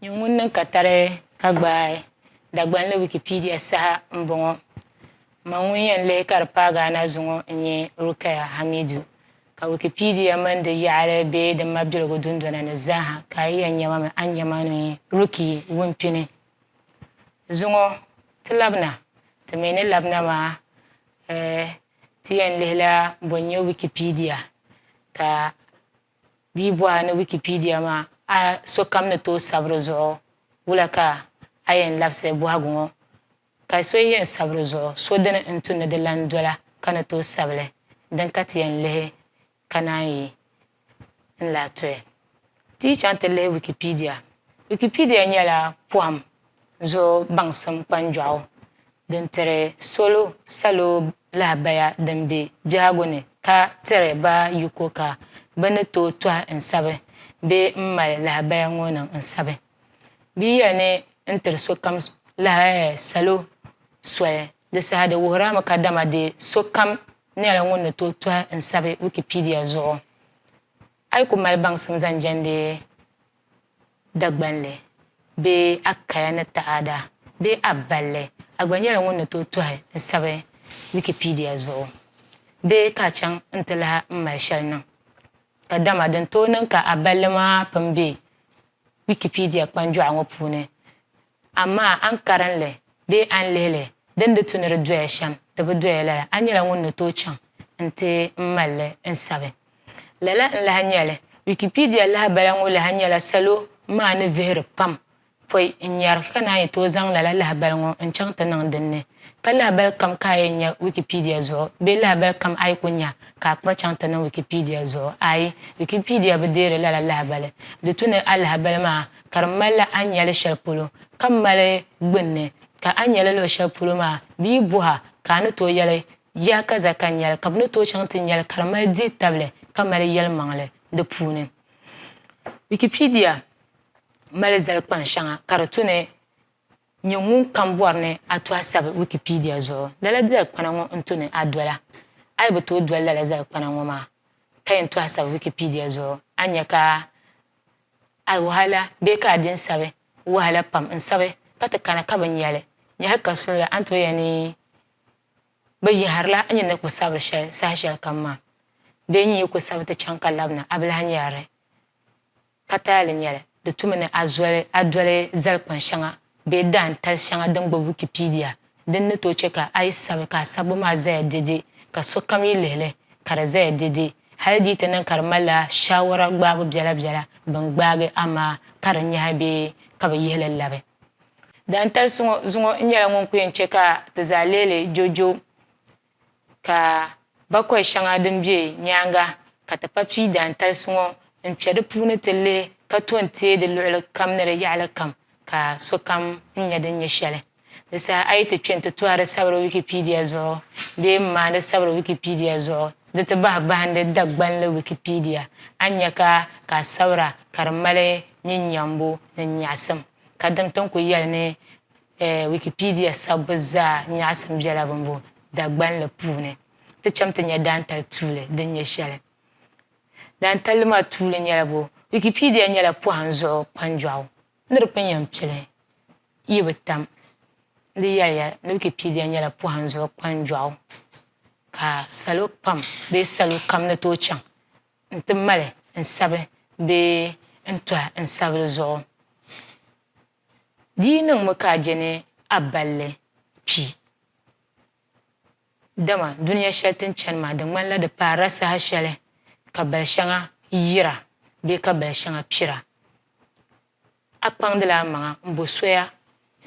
Nyɛ ŋun niŋ katari ka gbaai Dagbanli Wikipedia saha m-bɔŋɔ. M ma ŋun yɛn lihi ka di paai Ghana zuŋɔ n-nyɛ Rukaya Hamidu, ka Wikipedia mini di yaɣili bee di mabiligu dundona ni zaaha ka a yi yɛn nya ma mi a ni nya ma ni n-nyɛ Rukie Wumpini. Zuŋɔ ti labina, ti mi ni labina maa ti yɛn lihila bɔ n-nyɛ Wikipedia ka bɛ yi bɔhi a ni Wikipedia maa a sokam ni tooi sabi di zuɣu wula ka a yɛn labisiri bɔhigu ŋɔ ka so yɛn sabi di zuɣu so dini n-tu ni di lan dola ka ni tooi sabi li din ka ti yɛn lihi Ka naan yi n lahi tɔya ti yi chaŋ ti lihi Wikipedia, Wikipedia nyɛla pɔhim zuɣu baŋsim kpanjɔɣu din tiri solo salo lahabaya din be biɛhigu ni ka tiri ba yiko ka bɛ ni tooi tɔhi n sabi bee m mali lahabaya ŋɔ niŋ n sabi. Bɛ yɛli ni n tiri sokam salo soli di saha di wuhirimi kadama di sokam nyɛla ŋun ni tooi tɔhi n sabi Wikipedia zuɣu. A yi ku mali baŋsim zaŋ jɛndi Dagbanli bee a kaya ni taada bee a balli, a gba nyɛla ŋun ni tooi tɔhi n sabi Wikipedia zuɣu bee ka a chaŋ n ti lahi n mali shɛli niŋ. Kadama din tooi niŋ ka a balli maa pun be Wikipedia kpanjɔɣu ŋɔ puuni Amaa a ni karin li bee a ni lihi li, di ni di tu ni di doya shɛm, di bi doya lala, a nyɛla ŋun ni tooi chaŋ nti mali li n-sabi. Lala n-lahi nyɛ li. Wikipedia lahibala ŋɔ lahi nyɛla salo maa ni vihiri pam pɔi n-nyari ka naan yi tooi zaŋ lala lahibali ŋɔ n-chaŋ ti niŋ din ni. Ka lahibali kam ka a yɛn nya Wikipedia zuɣu bee lahibali kam a yi ku nya ka a kpa chaŋ ti niŋ Wikipedia zuɣu? Aai, Wikipedia bi deeri lala lahibali. Di tu ni a lahibali maa ka di malila a ni nya li shɛli polo ka mali gbunni, ka a nya li luɣ shɛli polo maa bɛ yi bɔh a ka a ni tooi yɛli, Yaa kaza ka n nya li, ka bɛ ni tooi chaŋ ti nya li ka di mali dihi tabili ka mali yɛlimaŋli di puuni. Wikipedia mali zali kpaŋ shɛŋa ka di tu ni. Nyɛ ŋun kam bɔri ni a to a sabi Wikipedia zuɣu lala dali'kpana ŋɔ n-to ni a dola. A yi bi tooi doli lala zali'kpana ŋɔ maa ka yɛn to a sabi Wikipedia zuɣu, a ni nya ka a wahala bee ka a din sabi wahala pam n-sabi ka ti kana ka bi nya li. Yaha ka suli la, a ni tooi yɛli ni bɛ yɛhirila a nyini ni ku sabiri shɛli sahashɛlikam maa bee nyin yi ku sabi ti chaŋ ka labina a bi lahi nyari li. Ka taali nya li, di tumi ni a zoli a doli zali kpan shɛŋa bee daan tali shɛŋa din gbubi Wikipedia. Din ni tooi chɛ ka a yi sabi ka a sabbu maa zaya dɛdɛ ka sokam yi lihi li ka di zaya dɛdɛ hali di yi ti niŋ ka di malila shaawara gbaabu biɛla biɛla bɛn gbaagi a maa ka di nyahi bee ka bɛ yihi li labi. Daantali so ŋɔ zuŋɔ n-nyɛla ŋun ku yɛn chɛ ka ti zaa leei li joojoo. ka bakɔi shɛŋa din be nyaaŋa ka ti pa pii daantalisi ŋɔ n-kpe di puuni ti lihi ka to n-teei di luɣili kam ni di yaɣili kam ka sokam n-nya din nyɛ shɛli. Di saha a yi ti kpe nti tɔhiri sabiri Wikipedia zuɣu bee m-maani sabiri Wikipedia zuɣu di ti bahi bahindi Dagbanli Wikipedia, a ni nya ka ka a sabira ka di mali nyin nyambu ni nyaɣisim ka dim ti ni ku yɛli ni Wikipedia sabbu zaa nyaɣisim bela bimbo Dagbanli puuni ti cham ti nya daantali tuuli din nyɛ shɛli. Daantalli maa tuuli nyɛla bo. Wikipedia nyɛla pɔhim zuɣu kpanjɔɣu ni di pun yɛn pili yi bi tam. N di yɛliya ni Wikipedia nyɛla pɔhim zuɣu kpanjɔɣu ka salo pam bee salo kam ni tooi chaŋ n-ti mali n-sabi bee n-tɔhi n-sabiri zuɣu. Di yi niŋmi ka a je ni a balli kpi. Dama dunia shɛli ti ni chani maa, di ŋmanila di paarila saha shɛli ka bal shɛŋa yira bee ka bal shɛŋa kpira. A kpaŋdila a maŋa m-bo soya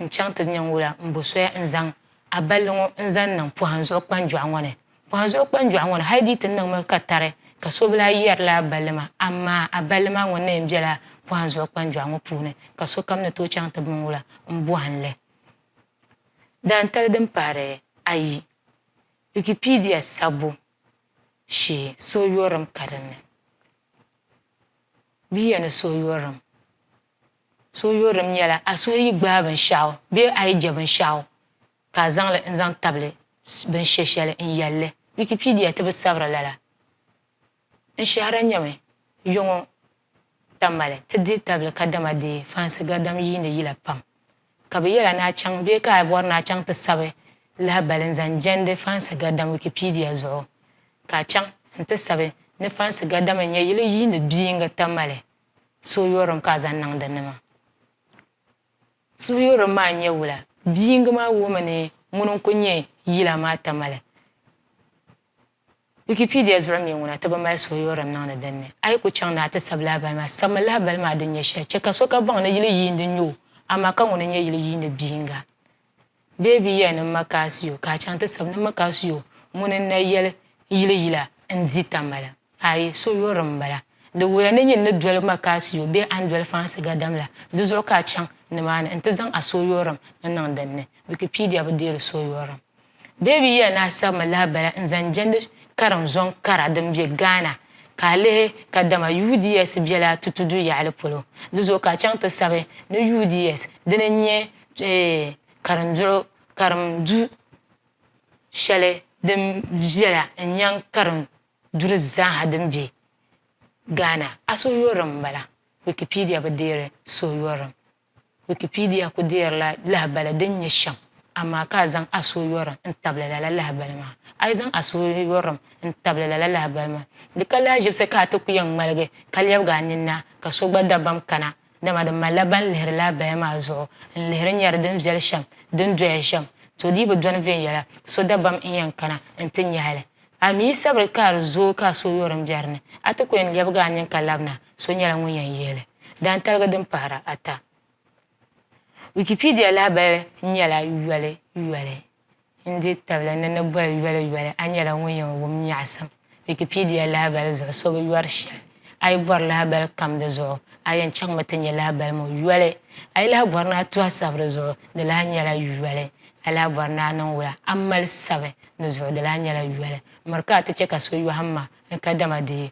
n-chaŋ ti nya n-wula m-bo soya n-zaŋ a balli ŋɔ n-zaŋ niŋ pɔhim zuɣu kpanjɔɣu ŋɔ ni. Kpaŋ zuɣu kpanjɔɣu ŋɔ ni hali di yi ti niŋ mi ka tari ka so bi lahi yɛri la a balli maa, amaa a balli maa ŋɔ neen bela pɔhim zuɣu kpanjɔɣu ŋɔ puuni ka sokam ni tooi chaŋ ti bi ŋ wula m-bɔhim li. Daantali din pahiri ayi, Wikipedia sabbu shee Suhuyurilim ka din ni bɛ ya ni suhuyurilim Suhuyurilim nyɛla a suhu yi gbaai binshɛɣu bee a yi je binshɛɣu, ka a zaŋ li n-zaŋ tabili bin she shɛli n yɛli li. Wikipedia ti bi sabiri lala. N shɛhira nyɛmi yɔŋɔ ta mali ti dihi tabili kadama dee fansi gadam yiini yila pam. Ka bɛ yɛla ni a chaŋ bee ka a bɔri ni a chaŋ ti sabi lahibali n-zaŋ jɛndi fansi gadam Wikipedia zuɣu, ka a chaŋ n-ti sabi ni fansi gadam n-nyɛ yili yiini biyiŋga ta mali suhuyurim ka a zaŋ niŋdi nima. Suhuyurili maa n-nyɛ wula? Bi' yiŋga maa wuhimi ni ŋuni n-kul nyɛ yila maa tamali. Wikipedia zuɣu mi ŋuna ti bi mali suhuyurili niŋdi din ni. A yi ku chaŋ ni a ti sabi lahibali maa, sabi mi lahibali maa din nyɛ shɛli. Chɛ ka so ka baŋ ni yili yiindi n-nyɛ o, amaa ka ŋuni n-nyɛ yili yiindi bi' yiŋga? Bee bɛ yɛli ni m ma ka a si o, ka a chaŋ ti sabi ni m mi ka si o ŋuni n-na yɛli yili yila n-di tambala? Aai! So yɔri m m-bala. Di wuhiya ni nyin ni doli ma ka a si o bee a ni doli fansi gadam la, di zuɣu ka a chaŋ nimaani nti zaŋ a so yɔrim n-niŋ din ni. Wikipedia bi deeri so yɔrim. Bee bɛ yɛli ni a sabi mi lahi bala n-zaŋ jɛndi karim zɔŋ kara din be Ghana, ka a lihi kadama UDS bela a tutudu yaɣili polo, di zuɣu ka a chaŋ ti sabi ni UDS dini n-nyɛ karimduɣu karim du shɛli din viɛla n-nyɛ karim duri zaaha din be Ghana. Asoyɔrim m-bala, Wikipedia bi deeri Soyɔrim. Wikipedia ku deerila lahibali din nyɛ shɛm, amaa ka a zaŋ Asoyɔrim n-tabili lala lahibali maa. A yi zaŋ Asoyɔrim n-tabili lala lahibali maa, di ka lahiʒibisi ka a ti ku yɛn ŋmaligi ka lɛbigi a ninni a ka so gba dabam kana Dama di malila ban lihiri laa baya maa zuɣu n-lihiri nyari din viɛli shɛm din doya shɛm. To di bi dɔni viɛnyɛla so dabam n-yɛn kana n-ti nyahi li. A mi yi sabiri ka di zooi ka a so yɔri m-be di ni, a ti ku yɛn lɛbigi a nini ka labina, so nyɛla ŋun yɛn yihi li. Daantaligi din pahira ata. Wikipedia lahabali nyɛla yoli yoli. N dihi tabili ni ni boli yoli yoli, a nyɛla ŋun yɛn wum nyaɣisim Wikipedia lahabali zuɣu So bi yɔri shɛli A yi bɔri lahabali kam di zuɣu, a yɛn chaŋmi ti nyɛ lahabali ŋɔ yoli. A yi lahi bɔri ni a tu a sabiri zuɣu, di lahi nyɛla yoli. A lahi bɔri ni a niŋ wula a mali sabi di zuɣu, di lahi nyɛla yoli. Miri ka a ti chɛ ka so yɔhim ma ni kadama di yi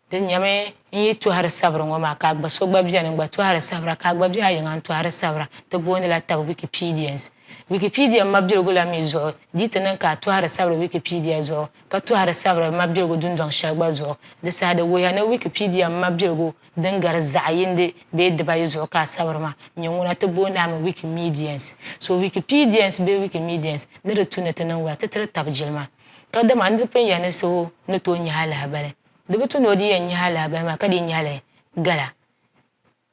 Di nyɛmi n yi tɔhiri sabiri ŋɔ maa ka a gba so gba beni n-gba tɔhiri sabira ka a gba be a yiŋa n-tɔhiri sabira. Ti boondila taba Wikipedians. Wikipedia mabiligu la mi zuɣu di yi ti niŋ ka a tɔhiri sabiri Wikipedia zuɣu ka tɔhiri sabiri mabiligu dundɔŋ shɛli gba zuɣu, di saha di wuhiya ni Wikipedia mabiligu din gari zaɣ yindi bee dibayi zuɣu ka a sabiri maa nyɛ ŋuna ti booni a mi Wikimedians. So Wikipedians bee Wikimedians ni di tu ni ti niŋ wula ti tiri taba jilima. Kadama n di pun yɛli ni so ni tooi nyahi alahibali. Di bi tu ni o di yɛn nyahi alahabali maa ka dii nyahi li gala.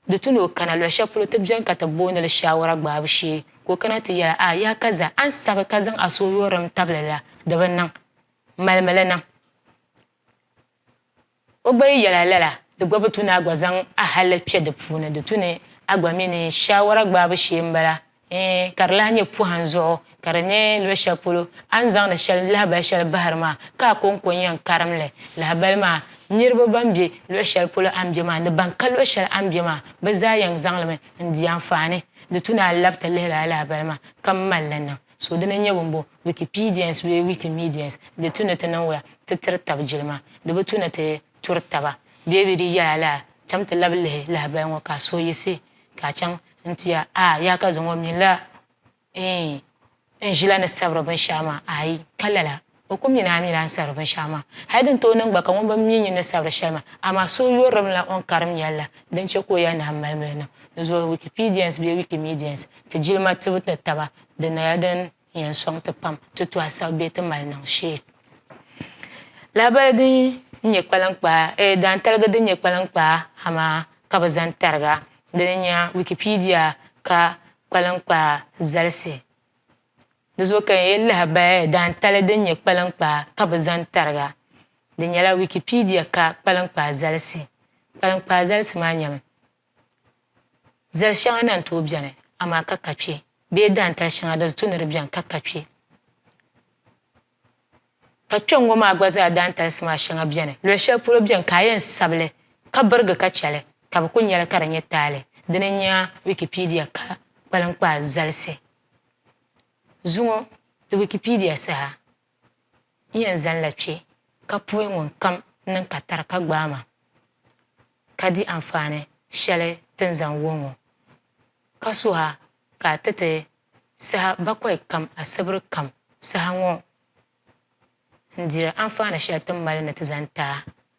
Di tu ni o kana luɣ shɛli polo ti beni ka ti booni li shaawara gbaabu shee, ka o kana ti yɛli a, Yaa Kaza, a ni sabi ka zaŋ a suhuyurilim tabili la, di bi niŋ. Malimi li niŋ. O gba yi yɛl a lala, di gba bi tu ni a gba zaŋ ahalli kpe di puuni. Di tu ni a gba mi ni shaawara gbaabu shee m-bala. Ɛɛn, ka di lahi nyɛ pɔhim zuɣu ka di nyɛ luɣ shɛli polo a ni zaŋdi shɛli lahibal shɛli bahiri maa ka a kɔŋko n-yɛn karim li. Lahibal maa, niriba ban be luɣ shɛli polo a ni be maa ni ban ka luɣ shɛli a ni be maa, bɛ zaa yɛn zaŋ li mi n-di anfaani. Di tu ni a lab ti lihi lala lahibal maa ka m-mal li niŋ. So dini n-nyɛ bimbo Wikipedians bee Wikimedians, di tu ni ti niŋ wula ti tiri tab jilima, di bi tu ni ti turi taba bee bɛ di yɛla lala, cham ti lab lihi lahibal ŋɔ ka a suhi yiɣisi ka a chaŋ N-tiya, a, yaa ka zaŋ o mi la eei n ʒila ni sabiri binshɛɣu maa, aai, ka lala, o ku mi ni a mi la n sabiri binshɛɣu maa. Hal din tooi niŋ gba ka ŋun bi mi nyin ni sabiri shɛli maa, amaa so o yɔririmi la o ni karim yɛli la, din chɛ ka o yɛli ni a mali mi li niŋ. Di zuɣu Wikipedians bee Wikimedians, ti jilima tibu ni taba, di naya din N yɛn sɔŋ ti pam ti to a sabu bee ti mali niŋ shee. Lahabali din nyɛ kpaliŋkpaa, eh, daantaligi din nyɛ kpaliŋkpaa ha maa ka bɛ zaŋ tarig a. Dini n-nyɛ a Wikipedia ka kpaliŋkpaa zalisi. Di zuɣu ka n yɛli lahabali eh, daantali din nyɛ kpaliŋkpaa ka bɛ zaŋ tarig a. Di nyɛla Wikipedia ka kpaliŋkpaa zalisi. Kpaliŋkpaa zalisi maa nyɛmi. Zali shɛŋa na n-tooi beni, amaa ka ka kpe, bee daantali shɛŋa din tu ni di beni ka ka kpe. Ka kpɛŋŋɔ maa gba zaa daantalisi maa shɛŋa beni, luɣ shɛli polo beni ka a yɛn sabi li ka birigi ka chɛ li, ka bɛ ku nya li ka di nyɛ taali. Dini n-nya Wikipedia ka kpaliŋkpaa zalisi zuŋɔ di Wikipedia saha. N yɛn zanila kpe ka puhi ŋunkam niŋ ka tari ka gbaai ma ka di anfaani shɛli ti ni zaŋ wuhi ŋɔ, ka suhi a ka a ti ti saha bakɔi kam asibiri kam saha ŋɔ n-diri anfaani shɛli ti ni mali ni ti zani ti a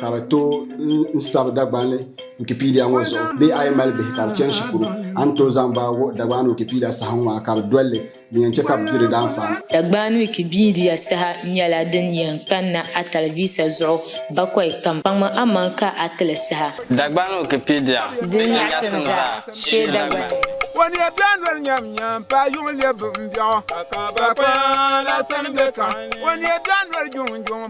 Ka bɛ tooi n sabi Dagbani Wikipedia ŋɔ zuɣu bee a yi mali bihi ka bɛ chani shikuru, a ni tooi zaŋ ba wuhi Dagbani Wikipedia saha ŋɔ maa ka bɛ doli li din yɛn chɛ ka bɛ di di daanfaani. Dagbani Wikipedia saha nyɛla din yɛn kanna a talivisa zuɣu bakɔi kam. Kpaŋmi aman ka a ti li saha. Dagbani Wikipedia din nyaɣisim zaa shee Dagbani. Waniya bɛɣu noli nyamnyam paai yuŋ lɛbi bimbɛɣu. Ka ka bakɔya la sani bɛ kahi. Waniya bɛɣu noli juŋjuŋ.